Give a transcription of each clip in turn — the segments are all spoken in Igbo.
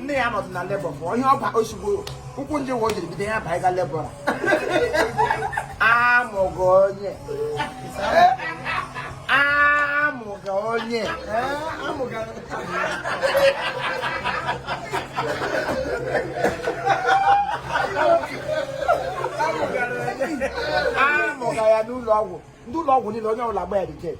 nne ya nọdụ na labor bụ onye ọba ozugbo ụkwụ njem ụwa o jiri bido ya baa ịga labor amụga onye amụga onye amụga ya n'ụlọ ọgwụ ndị ụlọ ọgwụ niile onye ọbụla gba ya reject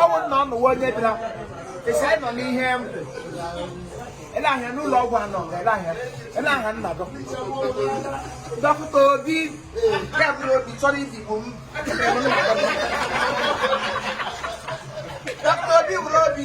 ọ bụrụ na ọ nụwa onye bịara esi anyị nọ n'ihe ele ahịa n'ụlọ ọgwụ anọ ele ahịa ele ahịa nna dọ dọkịta obi ya bụrụ obi chọrọ ibigbo m dọkịta obi bụrụ obi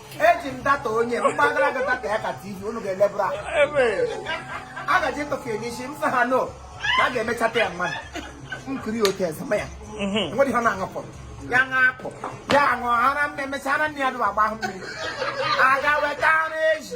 eji m data onye mgbagara gị data ya ka tv unu ga-elebụrụ a gaji ịtọfe ya n'isi m sị ha no na a ga-emechata ya mmadụ nkiri otu ezema ya nwere ihe ọ na-aṅụpụrụ ya ṅapụ ya aṅụ ara m na-emecha ara nne ya dụrụ agba ahụ mmiri aga weta ara eji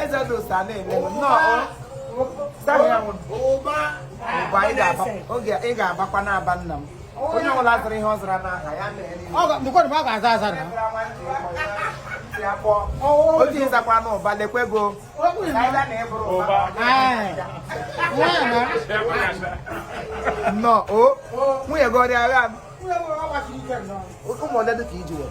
eze dị ụsa na-eme nnọọ ụba ị ga-abakwa n'ụba nna m onye ọbụla zụrụ ihe ọ zara n'aha ya ọ ga-aza aza na o ji ị zakwa n'ụba lekwa ego nnọọ o nwunye gị ọrịa agha ụmụ ole dị ka iji were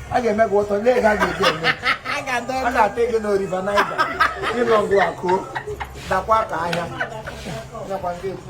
a ga-eme gị ụtọ lee ka a ga-eji eme a ga-ata gị na river niger ịnọ ngụ akụ dakwa ka ahịa nakwa ndị ekwu